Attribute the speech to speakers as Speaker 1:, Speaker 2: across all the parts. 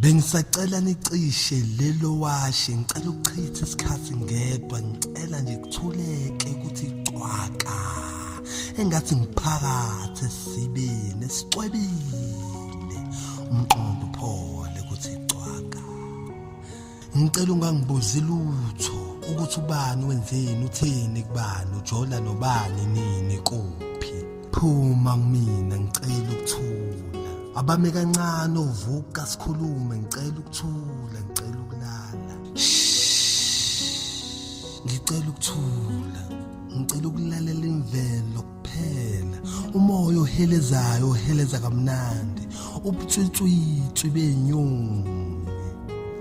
Speaker 1: Bengisacela nicishe lelo washe ngicela ukuchitha isikhathi ngedwa ngicela nje kuthuleke ukuthi cwaka engathi ngiphakathi esibini esicwebile umqondo uphole ukuthi cwaka ngicela ungangibuzi lutho ukuthi ubani wenzeni utheni kubani ujola nobani nini kuphi phuma kumina ngicela ukuthula abame kancane uvuka sikhulume ngicela ukuthula ngicela ukulala ngicela ukuthula ngicela ukulalela imvelo phela umoya ohelezayo oheleza kamnandi ubutswitswitswi benyoni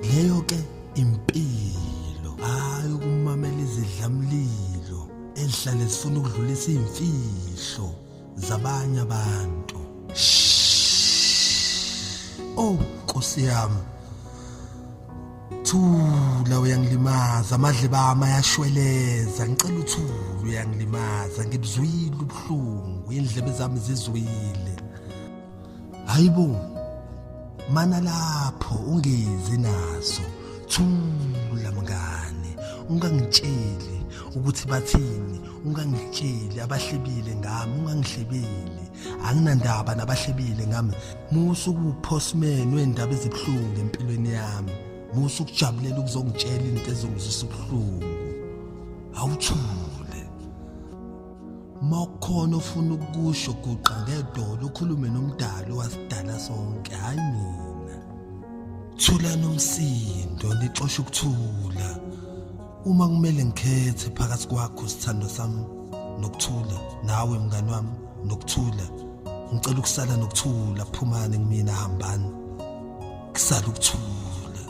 Speaker 1: leyo ke impilo hayi ukumamela izidlamlilo ezihlale zifuna ukudlulisa imfihlo zabanye abantu oh nkosi yami Thula uyangilimaza amadle bami ayashweleza ngicela uthula uyangilimaza ngibuzwile ubuhlungu indlebe zami zizwile Hayibo mana lapho ungezi naso thula mngane ungangitsheli ukuthi bathini ungangitsheli abahlebile ngami ungangihlebeli anginandaba nabahlebile ngami musa ukuphosmen wendaba ezibuhlungu empilweni yami musa ukujabulela ukuzongitshela into ezongizisa ubuhlungu awuthule makukhona ofuna ukusho guqa ngedolo ukhulume nomdali wasidala sonke hayi mina thula nomsindo nixosha ukuthula Uma kumele ngikhethe phakathi kwakho sithandwa sami nokuthula nawe mngani wami nokuthula ngicela ukusala nokuthula phumani kumina hambani kusala ukuthula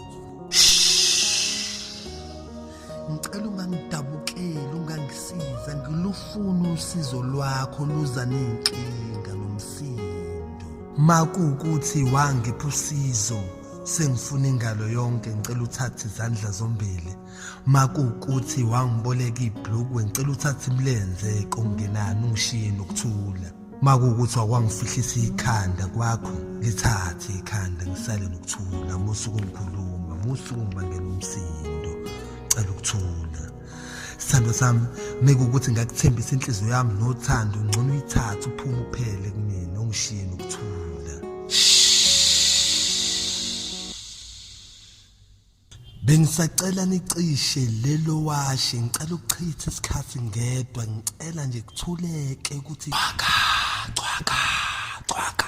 Speaker 1: ngicela ungangidabukeli ungangisiza ngilufuna usizo lwakho luza nenkinga nomsindo makuwukuthi wangipha usizo sengifuna ingalo yonke ngicela uthathe izandla zombili makuwukuthi wangiboleka ibhlukwe ngicela uthathe imilenze kongenani ungishiye nokuthula makuwukuthi wakwangifihlisa ikhanda kwakho lithathe ikhanda ngisale nokuthula musuku ngikhuluma musuku ngibangela umsindo cela ukuthula Sithando sami mekukuthi ngakuthembisa inhliziyo yami nothando ngcono uyithathe uphume uphele kumina ungishiye nokuthula. Bengisacela nicishe lelo washe ngicela ukuchitha isikhathi ngedwa ngicela nje kuthuleke ukuthi cwaka cwaka cwaka